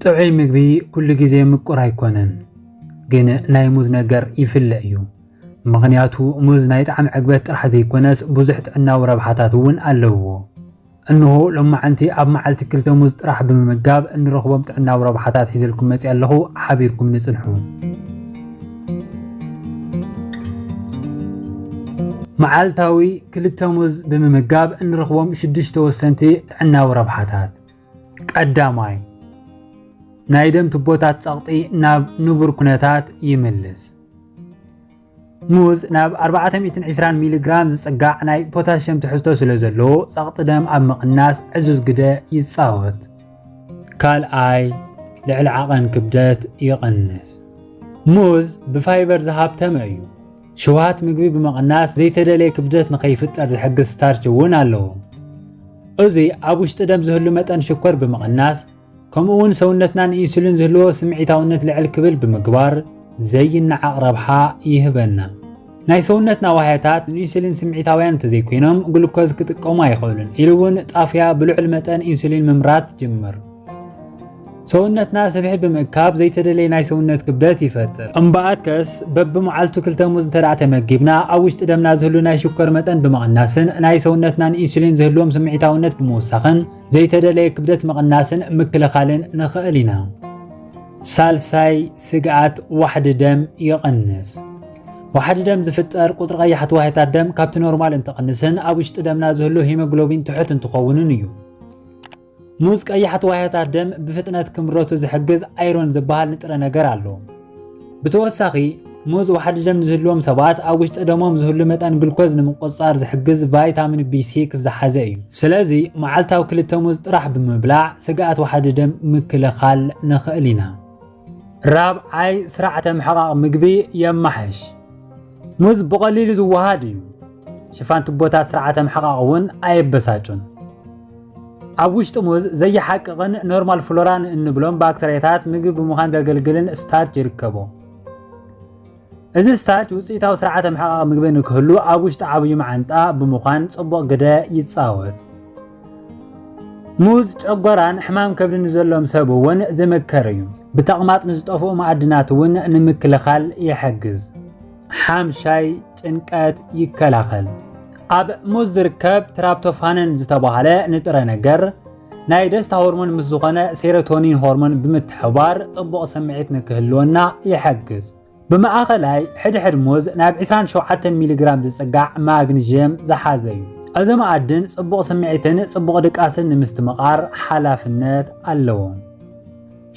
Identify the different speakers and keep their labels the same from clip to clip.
Speaker 1: ጥዑይ ምግቢ ኩሉ ግዜ ምቁር ኣይኮነን፣ ግን ናይ ሙዝ ነገር ይፍለ እዩ። ምኽንያቱ ሙዝ ናይ ጣዕሚ ዕግበት ጥራሕ ዘይኮነስ ብዙሕ ጥዕናዊ ረብሓታት እውን ኣለውዎ። እንሆ ሎማዕንቲ ኣብ መዓልቲ ክልተ ሙዝ ጥራሕ ብምምጋብ እንረኽቦም ጥዕናዊ ረብሓታት ሒዘልኩም መፂኣ ኣለኹ ሓቢርኩምኒ ፅንሑ። መዓልታዊ ክልተ ሙዝ ብምምጋብ እንረኽቦም ሽዱሽተ ወሰንቲ ጥዕናዊ ረብሓታት ቀዳማይ ናይ ደም ቱቦታት ጸቕጢ ናብ ንቡር ኩነታት ይምልስ። ሙዝ ናብ 420 ሚሊግራም ዝጽጋዕ ናይ ፖታሽየም ትሕዝቶ ስለ ዘለዎ ጸቕጢ ደም ኣብ ምቕናስ ዕዙዝ ግደ ይጻወት። ካልኣይ ልዕሊ ዓቐን ክብደት ይቕንስ። ሙዝ ብፋይበር ዝሃብተመ እዩ። ሽውሃት ምግቢ ብምቕናስ ዘይተደለየ ክብደት ንኸይፍጠር ዝሕግዝ ስታርች እውን ኣለዎ። እዚ ኣብ ውሽጢ ደም ዝህሉ መጠን ሽኮር ብምቕናስ ከምኡ እውን ሰውነትና ንኢንሱሊን ዝህልዎ ስምዒታውነት ልዕል ክብል ብምግባር ዘይነዓቕ ረብሓ ይህበና። ናይ ሰውነትና ዋህያታት ንኢንሱሊን ስምዒታውያን እንተዘይኮይኖም ግሉኮዝ ክጥቀሙ ኣይኽእሉን ኢሉ እውን ጣፍያ ብልዑል መጠን ኢንሱሊን ምምራት ጅምር ሰውነትና ስብሒ ብምእካብ ዘይተደለየ ናይ ሰውነት ክብደት ይፈጥር እምበኣርከስ በብመዓልቱ ክልተ ሙዝ እንተ ተመጊብና ኣብ ውሽጢ ደምና ዝህሉ ናይ ሽኮር መጠን ብምቕናስን ናይ ሰውነትና ንኢንሱሊን ዝህልዎም ስምዒታውነት ብምውሳኽን ዘይተደለየ ክብደት ምቕናስን ምክልኻልን ንኽእል ኢና። ሳልሳይ ስግኣት ዋሕዲ ደም ይቕንስ። ዋሕዲ ደም ዝፍጠር ቁፅሪ ቀያሕቲ ዋህታት ደም ካብቲ ኖርማል እንትቕንስን ኣብ ውሽጢ ደምና ዝህሉ ሂሞግሎቢን ትሑት እንትኸውንን እዩ ሙዝ ቀያሕቲ ዋህታት ደም ብፍጥነት ክምረቱ ዝሕግዝ ኣይሮን ዝበሃል ንጥረ ነገር ኣሎ ብተወሳኺ ሙዝ ዋሕዲ ደም ዝህልዎም ሰባት ኣብ ውሽጢ ደሞም ዝህሉ መጠን ግልኮዝ ንምቁፅፃር ዝሕግዝ ቫይታሚን ቢ6 ዝሓዘ እዩ። ስለዚ መዓልታዊ ክልተ ሙዝ ጥራሕ ብምብላዕ ስግኣት ዋሕዲ ደም ምክልኻል ንኽእል ኢና። ራብዓይ፣ ስርዓተ ምሕቓቕ ምግቢ የማሕሽ። ሙዝ ብቐሊሉ ዝወሃድ እዩ። ሽፋን ቱቦታት ስርዓተ ምሕቓቕ እውን ኣየበሳጩን። ኣብ ውሽጢ ሙዝ ዘየሓቅቕን ኖርማል ፍሎራን እንብሎም ባክተርያታት ምግቢ ብምዃን ዘገልግልን ስታርች ይርከቦ። እዚ ስታርች ውፅኢታዊ ስርዓተ ምሕቓቕ ምግቢ ንክህሉ ኣብ ውሽጢ ዓብዩ መዓንጣ ብምዃን ጽቡቕ ግደ ይጻወት። ሙዝ ጨጎራን ሕማም ከብዲ ንዘሎም ሰብ እውን ዝምከር እዩ። ብተቕማጥ ንዝጠፍኡ መኣድናት እውን ንምክልኻል ይሕግዝ። ሓምሻይ ጭንቀት ይከላኸል። ኣብ ሙዝ ዝርከብ ትራፕቶፋንን ዝተባህለ ንጥረ ነገር ናይ ደስታ ሆርሞን ምስ ዝኾነ ሴሮቶኒን ሆርሞን ብምትሕባር ጽቡቕ ስምዒት ንክህልወና ይሕግዝ። ብማእኸላይ ሕድሕድ ሙዝ ናብ 27 ሚሊግራም ዝጽጋዕ ማግኒዥየም ዝሓዘ እዩ። እዚ መኣድን ጽቡቕ ስምዒትን ጽቡቕ ድቃስን ንምስትምቓር ሓላፍነት ኣለዎ።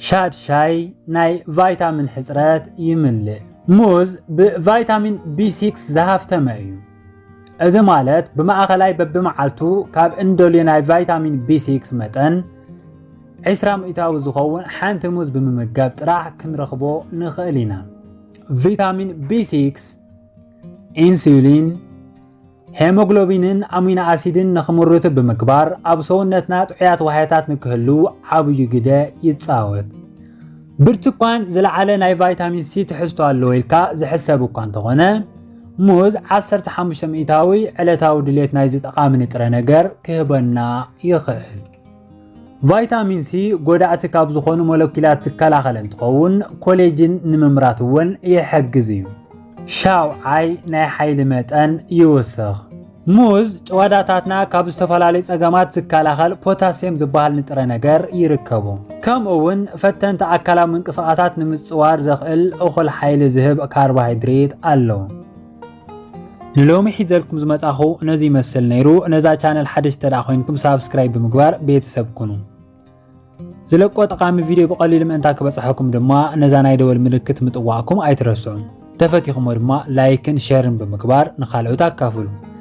Speaker 1: ሻድሻይ ናይ ቫይታሚን ሕጽረት ይምልእ። ሙዝ ብቫይታሚን ቢ6 ዝሃፍተመ እዩ። እዚ ማለት ብማእኸላይ በብመዓልቱ ካብ እንደልዮ ናይ ቫይታሚን ቢ6 መጠን 20 ሚእታዊ ዝኸውን ሓንቲ ሙዝ ብምምጋብ ጥራሕ ክንረኽቦ ንኽእል ኢና። ቪታሚን ቢ6 ኢንሱሊን ሄሞግሎቢንን ኣሚኖ ኣሲድን ንኽምርቱ ብምግባር ኣብ ሰውነትና ጥዑያት ዋህያታት ንክህሉ ዓብዩ ግደ ይጻወት። ብርቱኳን ዝለዓለ ናይ ቫይታሚን ሲ ትሕዝቶ ኣለዎ ኢልካ ዝሕሰብ እኳ እንተኾነ ሙዝ 15 ሚእታዊ ዕለታዊ ድሌት ናይዚ ጠቓሚ ንጥረ ነገር ክህበና ይኽእል። ቫይታሚን ሲ ጎዳእቲ ካብ ዝኾኑ ሞለኪላት ዝከላኸል እንትኸውን ኮሌጅን ንምምራት እውን ይሕግዝ እዩ። ሻውዓይ ናይ ሓይሊ መጠን ይውስኽ። ሙዝ ጭዋዳታትና ካብ ዝተፈላለዩ ጸገማት ዝከላኸል ፖታስየም ዝበሃል ንጥረ ነገር ይርከቡ። ከምኡ እውን ፈተንቲ ኣካላዊ ምንቅስቓሳት ንምጽዋር ዘኽእል እኹል ሓይሊ ዝህብ ካርቦሃይድሬት ኣለዎ። ንሎሚ ሒዘልኩም ዝመጻኹ ነዚ ይመስል ነይሩ ነዛ ቻነል ሓደሽ ተደኣ ኮይንኩም ሳብስክራይብ ብምግባር ቤተሰብ ኩኑ ዝለቆ ጠቓሚ ቪድዮ ብቐሊሉ ምእንታ ክበጽሐኩም ድማ ነዛ ናይ ደወል ምልክት ምጥዋእኩም ኣይትረስዑ ተፈቲኹሞ ድማ ላይክን ሸርን ብምግባር ንካልኦት ኣካፍሉ